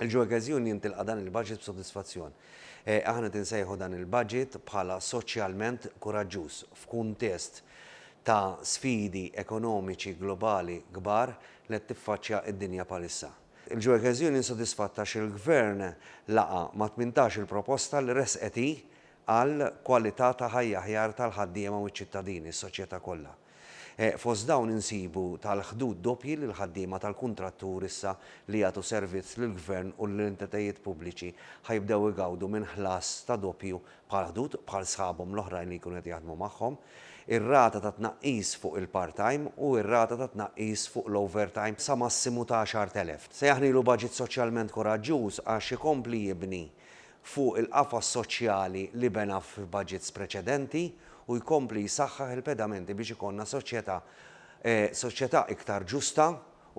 Il-Ġoekeżjun jintilqa' dan il-baġit b'sodisfazzjon. Aħna qed insejħu dan il-baġit bħala soċjalment kuraġġuż f'kuntest ta' sfidi ekonomiċi globali kbar li qed tiffaċċja d-dinja bħalissa. Il-Ġoekeżjun insodisfatt għax il-Gvern laqa' ma' tmintax il-proposta li ressqet hi għal kwalità ta' ħajja aħjar tal-ħaddiema u ċ-ċittadini, s-soċjetà kollha. Fost dawn insibu tal-ħdud doppji lill-ħaddiema tal-kuntrattur issa li jagħtu servizz lill-Gvern u lill-entitajiet pubbliċi ħa jibdew igawdu minn ħlas ta' doppju bħall-ħdud bħal sħabhom l-oħrajn li jkunu qed jaħdmu magħhom, ir-rata ta' tnaqqis fuq il-part-time u r-rata ta' tnaqqis fuq l-overtime sa massimu ta' 10,000. Sejjaħnilu baġit soċjalment kuraġġuż għax ikompli jibni fuq il-qafas soċjali li bena f'budgets preċedenti u jkompli jsaħħaħ il-pedamenti biex ikollna soċjetà soċjetà iktar ġusta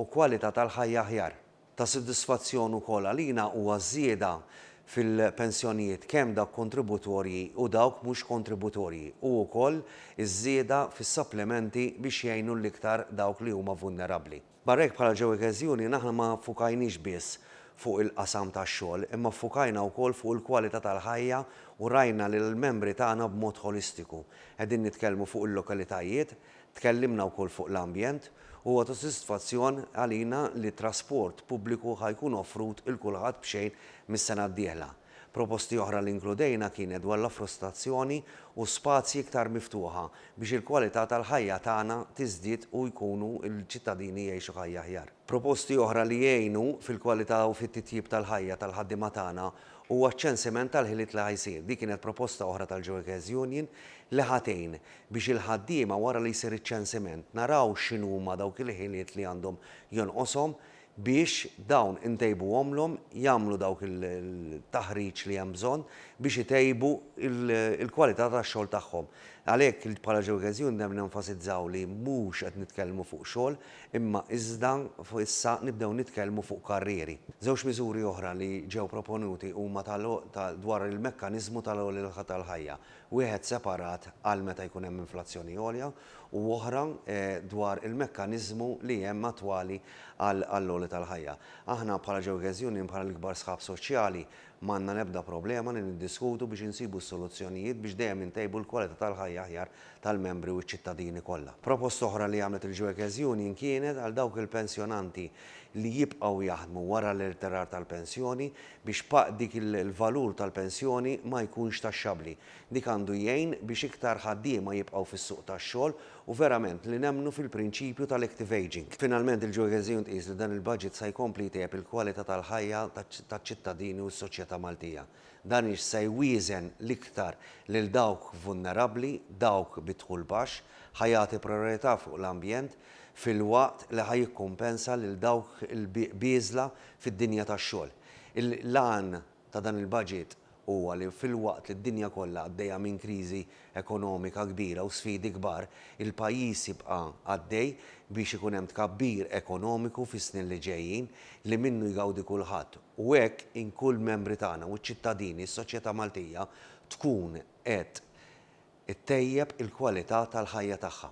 u kwalità tal-ħajja aħjar. Ta' sodisfazzjon ukoll għalina huwa ż-żieda fil-pensjonijiet kemm dawk kontributorji u dawk mhux kontributorji u wkoll iż-żieda fis-supplementi biex jgħinu l-iktar dawk li huma vulnerabbli. Barra hekk bħala Joe Cares Union aħna ma ffukajniex biss fuq il-qasam tax-xogħol imma ffukajna wkoll fuq il-kwalità tal-ħajja u rajna lill-membri tagħna b'mod ħolistiku. Qegħdin nitkellmu fuq il-lokalitajiet, tkellimna wkoll fuq l-ambjent, u huwa ta' sodisfazzjon għalina li t-trasport pubbliku ħa jkun offrut 'il kulħadd b'xejn mis-sena d-dieħla. Proposti oħra li inkludejna kienet dwar l-affostazzjoni u spazji iktar miftuħa biex il-kwalità tal-ħajja tagħna tiżdied u jkunu l-ċittadini jgħixu ħajja aħjar. Proposti oħra li jgħinu fil-kwalità u fit-titjib tal-ħajja tal-ħaddiema tagħna huwa ċ-ċensiment tal-ħiliet li ħa jsir. Din kienet proposta oħra tal-Joekes Union li ħa tgħin biex il-ħaddiema wara li jsir iċ-ċensiment naraw x'inhuma dawk il-ħiliet li għandhom jonqoshom biex dawn intejbuhomlhom jagħmlu dawk il-taħriġ li hemm bżonn biex itejbu l-kwalità tax-xogħol tagħhom. Għalhekk bħala Geogesund hemm nenfasizzaw li mhux qed nitkellmu fuq xogħol imma iżda issa nibdew nitkellmu fuq karrieri. Żewġ miżuri oħra li ġew proponuti huma ta' dwar il-mekkaniżmu tal-għolja tal-ħajja, wieħed separat għal meta jkun hemm inflazzjoni għolja u oħra dwar il-mekkaniżmu li hemm attwali għall-għoli tal-ħajja. Aħna bħala Geogas Union, bħala l-ikbar sħab soċjali, m'għandna l-ebda problema li niddiskutu biex insibu s-soluzzjonijiet biex dejjem intejbu l-kwalità tal-ħajja aħjar tal-membri u ċ-ċittadini kollha. Proposta oħra li għamlet il-Geogas Union kienet għal dawk il-pensjonanti li jibqgħu jaħdmu wara l-irtirar tal-pensjoni biex dik il-valur tal-pensjoni ma jkunx taxxabbli. Dik għandu jgħin biex iktar ħaddiema jibqgħu fis-suq tax-xogħol u verament li nemmnu fil-prinċipju tal-active ageing. Finalment, il-Georgesien tqis li dan il-Budget sa jkompli jtejjeb il-kwalità tal-ħajja taċ-ċittadini u s-soċjetà Maltija. Dan ix sa jwieżen l-iktar lil dawk vulnerabbli, dawk bi dħul baxx, ħa jagħti prijorità fuq l-ambjent, filwaqt li ħa jikkumpensa lil dawk il-bieżla fid-dinja tax-xogħol. L-għan ta' dan il-baġit huwa li filwaqt li d-dinja kollha għaddejja minn kriżi ekonomika kbira u sfidi kbar, il-pajjiż jibqa' għaddej biex ikun hemm tkabbir ekonomiku fis-snin li ġejjin li minnu jgawdi kulħadd u hekk inkun l-membri tagħna u ċ-ċittadini, s-soċjetà Maltija tkun qed ittejjeb il-kwalità tal-ħajja tagħha.